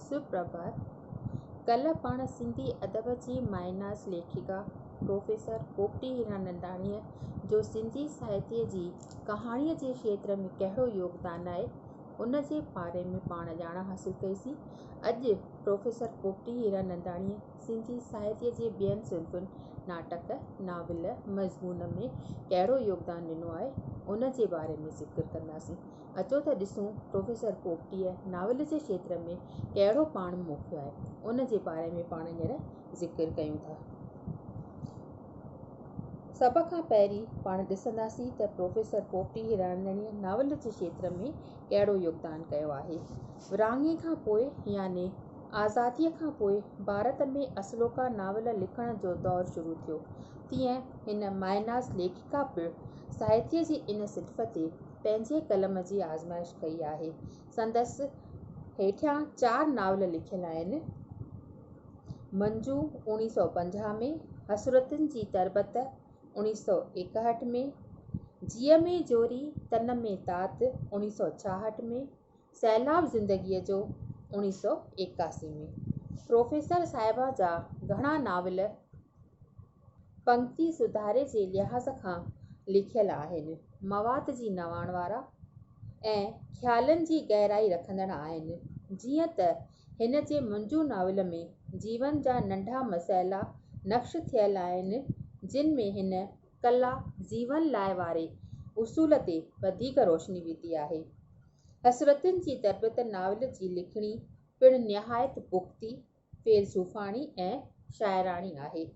سپرڀات، ڪلهه پاڻ سنڌي ادب جي مايناز ليکڪا پروفيسر پوپٽي هيراننداڻيء جو سنڌي ساهتيه جي ڪهاڻيء جي کيتر ۾ ڪهڙو يوگدان آهي، ان جي باري ۾ پاڻ ڄاڻ حاصل ڪئيسين. اڄ پروفيسر پوپٽي هيراننداڻيء سنڌي ساهتيه جي ٻين صنفن، ناٽڪ، ناول، مضمون ۾ ڪهڙو يوگدان ڏنو آهي، ان جي باري ۾ ذڪر ڪنداسين. اچو ته ڏسون پروفيسر پوپٽيء ناول جي کيتر ۾ ڪهڙو پاڻ موکيو آهي. ان جي باري ۾ پاڻ هينئر ذڪر ڪيون ٿا. سڀ کان پهرين پاڻ ڏسنداسين ته پروفيسر پوپٽي هيرانندڻيء ناول جي کيتر ۾ ڪهڙو يوگدان ڪيو آهي. ورهاڱي کان پوء يعني آزاديء کان پوء ڀارت ۾ اصلوڪا ناول لکڻ جو دور شروع ٿيو. تيئن هن مائناز ليکڪا پڻ ساهتيء جي ان صنف تي پنهنجي قلم جي آزمائش ڪئي آهي. سندس هيٺيان چار ناول لکيل آهن، منجو، اوڻيهه سؤ پنجاهه ۾، حسرتن جي تربت، اوڻيهه سؤ ايڪاهٺ ۾، جيء ۾ جوري، تن ۾ تات، اوڻيهه سؤ ڇاهٺ ۾، سيلاب زندگيء جو اوڻيهه سؤ ايڪاسي ۾ پروفيسر صاحبه جا گهڻا ناول پنگتي سڌاري جي لحاظ کان لکيل آهن، مواد جي نواڻ وارا ۽ خيالن جي گهرائي رکندڙ آهن، جيئن ته هن جي منجو ناول ۾ جيون جا ننڍا مسئلا نقش ٿيل آهن، جن ۾ هن ڪلا جيون لاء واري اصول تي وڌيڪ روشني وڌي آهي. حسرتن جي تربيت ناول جي لکڻي پڻ نهايت پختي، فيلسوفاڻي ۽ شاعراڻي آهي.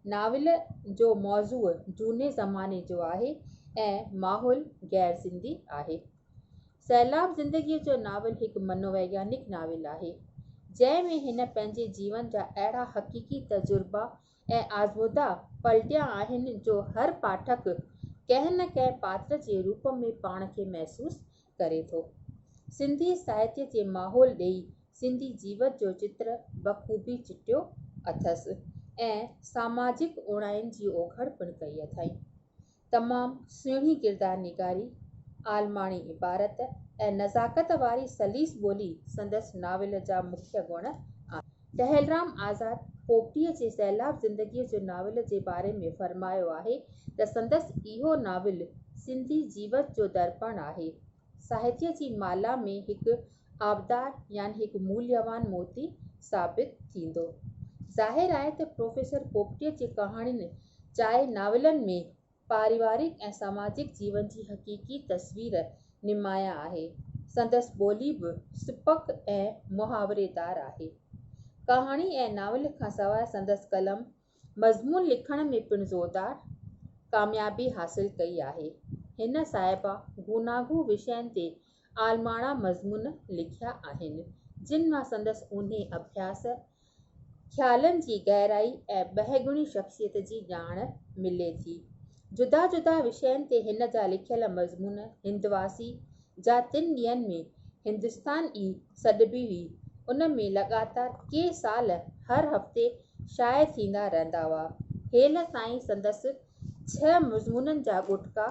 ناول جو موضوع جهوني زماني جو آهي ۽ ماحول غير سنڌي آهي. سيلاب زندگيء جو ناول هڪ منوويگيانڪ ناول آهي، جنهن ۾ هن پنهنجي جيون جا اهڙا حقيقي تجربا ۽ آزمودا پلٽيا آهن جو هر پاٺڪ ڪنهن نه ڪنهن پاتر جي روپ ۾ پاڻ کي محسوس ڪري ٿو. سنڌي ساهتيه جي ماحول ڏيئي سنڌي جيوت جو چتر بخوبي چٽيو اٿس ۽ ساماجڪ اوڻاين جي اوگهڙ پڻ ڪئي اٿائين. تمام سهڻي ڪردار نگاري، عالماڻي عبارت ۽ نزاڪت واري سليس ٻولي سندس ناول جا مکيه گڻ آهن. ٽهلرام آزاد پوپٽيء جي سيلاب زندگيء جو ناول جي باري ۾ فرمايو آهي ته سندس اهو ناول سنڌي جيوت جو درپڻ آهي. ساهتيه جي مالها ۾ هڪ آبدار يعني هڪ موليوان موتي ثابت ٿيندو. ظاهر آهي ته پروفيسر پوپٽيء جي ڪهاڻين چائي ناولن ۾ پاريوارڪ ۽ سماجڪ جيون جي حقيقي تصوير نمايان آهي. سندس ٻولي به سپڪ ۽ محاوري دار آهي. ڪهاڻي ۽ ناول کان سواء سندس قلم مضمون لکڻ ۾ پڻ زوردار ڪاميابي حاصل ڪئي آهي. هن صاحبه گوناگون وشين تي عالماڻا مضمون لکيا آهن، جن مان سندس اونهي اڀياس ۽ خيالن جي گهرائي ۽ ٻهگڻي شخصيت جي ڄاڻ ملي ٿي. جدا جدا وشين تي هن جا لکيل مضمون هندواسي جا تن ڏينهن ۾ هندستان ئي سڏبي هئي، ان ۾ لڳاتار ڪي سال هر هفتي شايع ٿيندا رهندا هئا. هيل تائين سندس ڇهه مضمونن جا ڳوٽڪا.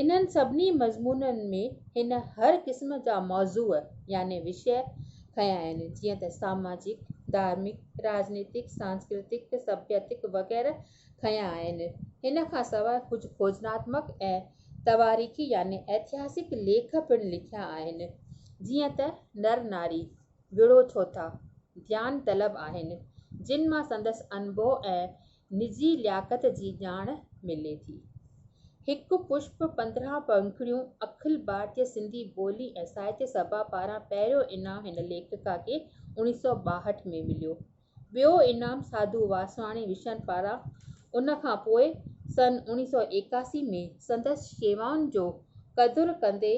انهن سڀني مضمونن ۾ هن هر قسم جا موضوع يعني وشيه کنيا آهن جيئن ته ساماجڪ، ڌارمڪ، راڄنيتڪ، سانسڪرتڪ، سڀيتڪ وغيره کنيا آهن. هن کان سواء ڪجهه کوجناتمڪ ۽ تواريخي يعني اتهاسڪ ليک پڻ لکيا آهن جيئن ته نر ناري، وڙهو ڇوٿا، ڌيان طلب آهن جن مان سندس انبوهه ۽ نجي لياقت جي ڄاڻ ملي ٿي. هڪ پشپ پندرهن پنکڙيون اکل ڀارتي سنڌي ٻولي ۽ ساهتيه سڀا پاران پهريون انعام هن ليکڪا کي اوڻيهه سؤ ٻاهٺ ۾ مليو. ٻيو انعام ساڌو واسواڻي وشن پاران ان کان پوء سن اوڻيهه سؤ ايڪاسي ۾ سندس شيوائن جو قدر ڪندي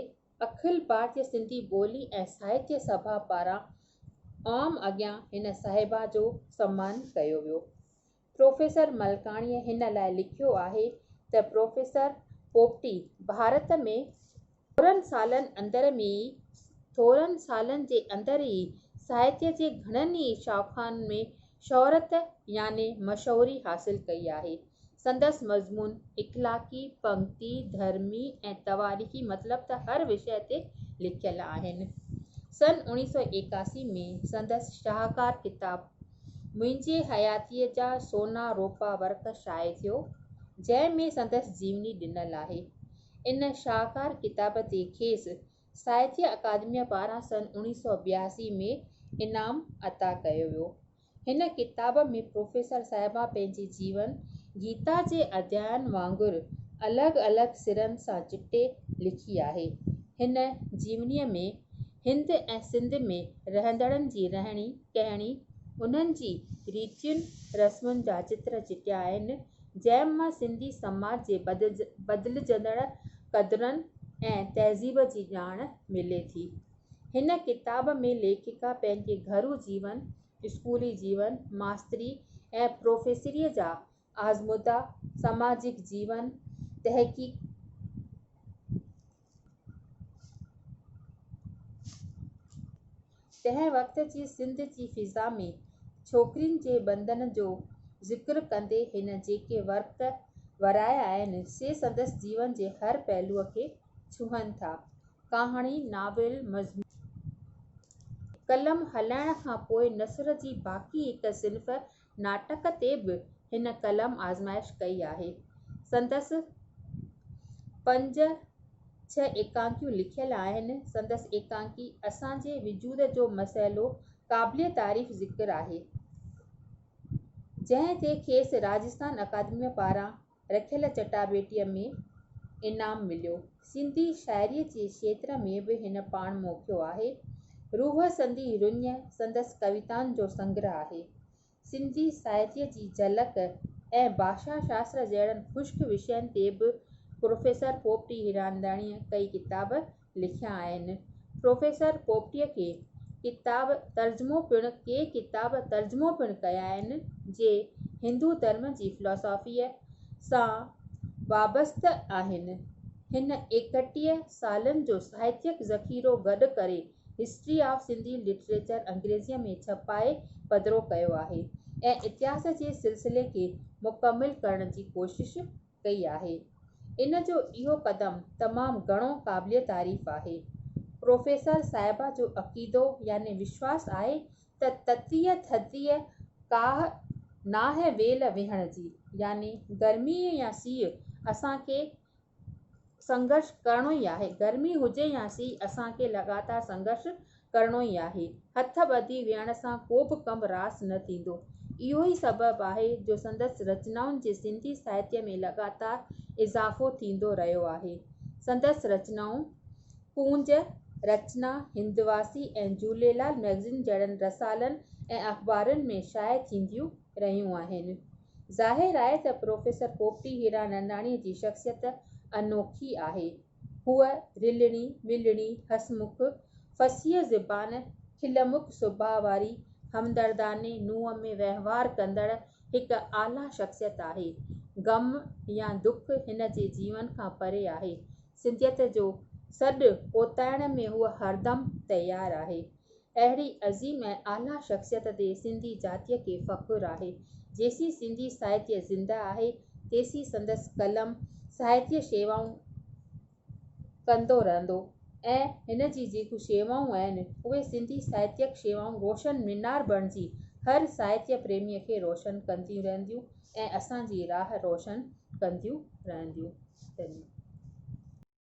اکل ڀارتي سنڌي ٻولي ۽ ساهتيه سڀا پاران عام اڳيان هن صاحبه جو سمان ڪيو ويو. پروفيسر ملڪاڻيء هن لاء لکيو آهي ته پروفيسر پوپٽي ڀارت ۾ ٿورن سالن اندر ۾ ئي ٿورن سالن جي اندر ئي ساهتيه جي گهڻن ئي شاخن ۾ شهرت يعني مشهوري حاصل ڪئي آهي. سندس مضمون اخلاقي، پنگتي، ڌرمي ۽ تواريخي مطلب ته هر وشيه تي لکيل آهن. سن اڻيهه سؤ ايڪاسي ۾ سندس شاهڪار ڪتاب منهنجي حياتيء جا سونا روپا ورق شايع ٿيو، جنهن ۾ سندس جيوني ڏنل آهي. ان شاهڪار ڪتاب تي کيس ساهتيه اڪادميء پاران سن اڻيهه سؤ ٻياسي ۾ انعام عطا ڪيو ويو. هن ڪتاب ۾ پروفيسر صاحبه پنهنجي جيون گيتا جي اديائن وانگر الڳ الڳ سرن سان چٽي لکي آهي. هن جيونيء ۾ هند ۽ سنڌ ۾ رهندڙن جي رهڻي ڪهڻي، انهن جي ريتين رسمن جا چتر چٽيا آهن، جنهن مان سنڌي سماج جي بدلجندڙ قدرن ۽ تهذيب جي ڄاڻ ملي ٿي. هن ڪتاب ۾ ليکڪا پنهنجي گهرو جيون، اسڪولي جيون، ماستري ۽ پروفيسريء جا آزمودا، سماجڪ جيون، تحقيقي تنهن وقت جي سنڌ جي فضا ۾ ڇوڪرين جي بندن جو ذڪر ڪندي هن جيڪي ورق ورايا آهن، سي سندس جيون جي هر پهلوء کي ڇهن ٿا. ڪهاڻي، ناول، مضمون ۽ قلم هلائڻ کان پوء نثر جي باقي هڪ صنف ناٽڪ تي به هن قلم آزمائش ڪئي آهي. سندس پنج ڇهه ايڪانڪيون لکيل آهن. سندس ايڪانڪي اسان جي وجود جو مسئلو قابل تعريف ذڪر آهي، جنهن تي کيس راجسٿان اڪادميء پاران رکيل چٽاڀيٽيء ۾ انعام مليو. سنڌي شاعريء جي کيتر ۾ به هن پاڻ موکيو آهي. روح سندي رڃ سندس ڪويتائن جو سنگرهه آهي. سنڌي ساهتيء جي جهلڪ ۽ ڀاشا شاستر جهڙن خشڪ وشين تي به پروفيسر پوپٽي هيراننداڻيء ڪئي ڪتاب لکيا آهن. پروفيسر پوپٽيء ڪي ڪتاب ترجمو پڻ ڪي ڪتاب ترجمو پڻ ڪيا آهن، جي هندو ڌرم جي فلاسافيء سان وابسته آهن. هن ايڪٽيهه سالن جو ساهتيڪ ذخيرو گڏ ڪري هسٽري آف سنڌي لٽريچر انگريزيء ۾ ڇپائي پڌرو ڪيو آهي ۽ اتهاس جي سلسلي کي مڪمل ڪرڻ جي ڪوشش ڪئي آهي. ان جو اهو قدم تمام گهڻو قابل تعريف آهي. پروفيسر صاحبه جو عقيدو يعني وشواس آهي ته تتيء ٿڌيء ڪاهه ناهي ويل ويهڻ جي يعني گرمي يا سيء اسان کي سنگهرش ڪرڻو ئي آهي. گرمي هجي يا سيء اسان کي لڳاتار سنگهرش ڪرڻو ئي آهي. هٿ ٻڌي ويهڻ سان ڪو به ڪم راس نه ٿيندو. اهو ئي سبب آهي جو سندس رچنائن جي سنڌي ساهتيه ۾ لڳاتار اضافو ٿيندو رهيو آهي. سندس رچنائون ڪونج، رچنا، هندواسي ۽ جهوليلال مئگزين جهڙن رسالن ۽ اخبارن ۾ شايع ٿينديون رهيون آهن. ظاهر آهي ته پروفيسر پوپٽي هيراننداڻيء جي شخصيت انوکي آهي. هوء رلڻي ملڻي هسمک فصيح زبان کلمک سڀاء واري همدردانه نوع ۾ وهنوار ڪندڙ هڪ اعليٰ شخصيت آهي. غم يا دک هن جي جيون کان پري آهي. سنڌيت جو سڏ اوتائڻ ۾ هوء هردم تيار آهي. اهڙي عظيم ۽ اعليٰ شخصيت تي سنڌي جاتيء کي فخر آهي. جيسين سنڌي ساهتيه زنده آهي، تيسين سندس قلم ساهتيه شيوائون ڪندو رهندو ۽ هن جي جيڪو شيوائون آهن، اهي سنڌي ساهتيڪ شيوائون روشن مينار بڻجي هر ساهتيه پريميء کي روشن ڪنديون رهنديون ۽ اسان جي راهه روشن ڪنديون رهنديون.